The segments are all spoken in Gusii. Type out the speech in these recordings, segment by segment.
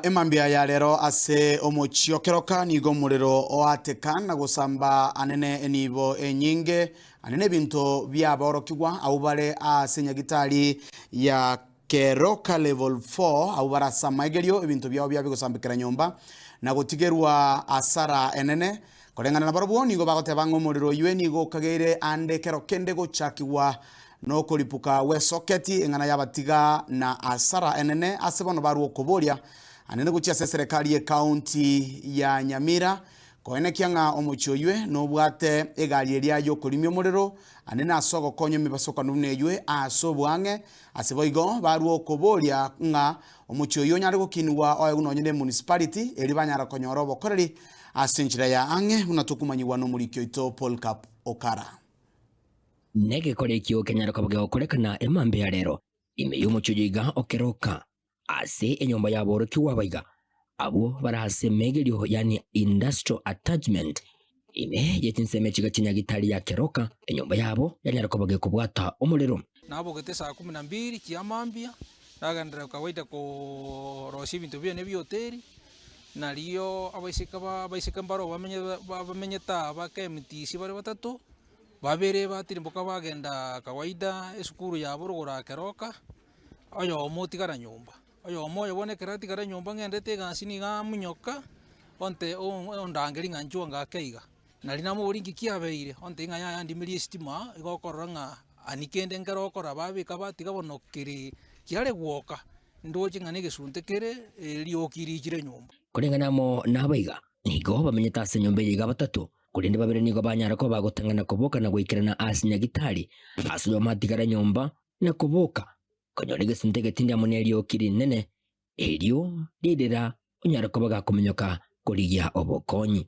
Emambia ya rero ase omochie o keroka nigo omorero oateka na gosamba anene enibo enyinge, anene ebinto biaborokigwa abwo bare ase nyagitari ya keroka level four abwo barasama egerio ebinto biabo biabe gosambekera nyomba na gotigerwa asara enene Koreng'ana nabarabwo nigo bagoteba ng'a omorero oyio nigo okageire aande ekero kende gochakigwa nokoripuka gw'esoketi eng'ana y'abatiga na asara enene ase bono barwa okoboria anene gochia ase eserekari y'ekaunti ya Nyamira koenekia ng'a omochie oyio nobwate egari eria yokorimia omorero anene ase ogokonya emebasokano buna eyio ase oboang'e ase boigo barwa okoboria ng'a omochie oyio onyare gokinigwa oegwe nonye ne municipality erio banyara konyora obokoreri Ase enchera ya ang'e buna tokomanyigwa n'omoriki oito Polkap Okara. Negekore ekio kenyare koba gegokorekana emambia ya rero, ime y'omochie oyio iga okeroka ase enyomba y'aborokigwa aba iga, abwo bare ase emegerio, yaani industrial attachment. Ime ye chinsemo echi iga chinyage itari yakeroka enyomba yabo yanyare koba gekobwata omorero. Nabogete esaa kumi na mbiri chiamambia, nagenderera goika goita korosia ebinto biane bia hoteri. Narioo abaiseke baa abaiseke mbaroo bamenye ba- bamenyete aa ba KMTC bare batato, babere batirimboka bagendaa kawaida esukuru yabo rogoro aa keroka, oyomo otigara nyomba. Oyomo oyo bono ekero atigare nyomba ng'endete egasi niga amunyoka, onte oon ondangerie ng'a nchwango ake iga. Nari namobori inki kiabeire, ontebie ng'a yaya ndimirie esitima, igo okorora ng'a ani kende nkero okora babeka batiga bono keri kiare gwoka, ndoche ng'a negesunte kere erioki riichire nyomba. Koreng'ana amo nabo iga, nigo bamenyete ase enyomba eye iga batato, korende babere nigo banyara koba gotang'ana koboka na goikerana ase nyagitari, ase oyomo atigare nyomba na koboka konyora egesunte getindi amo nerioki rinene, erio ririra onyare koba gakominyoka korigia obokonyi.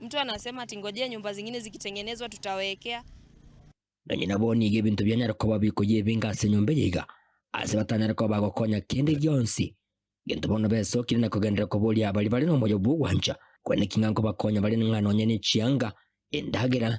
Mtu anasema ati ngojea nyumba zingine zikitengenezwa tutawekea. Nonye nabo nigo ebinto bianyare koba bikoyebinga ase enyomba eye iga, ase batanyare koba bagokonya kende gionsi. Gento bono besokire na kogenderera koboria baria bare nomoyo bw'ogwancha, kore naki ng'a nkobakonya bare ng'a nonye ne chianga, endagera,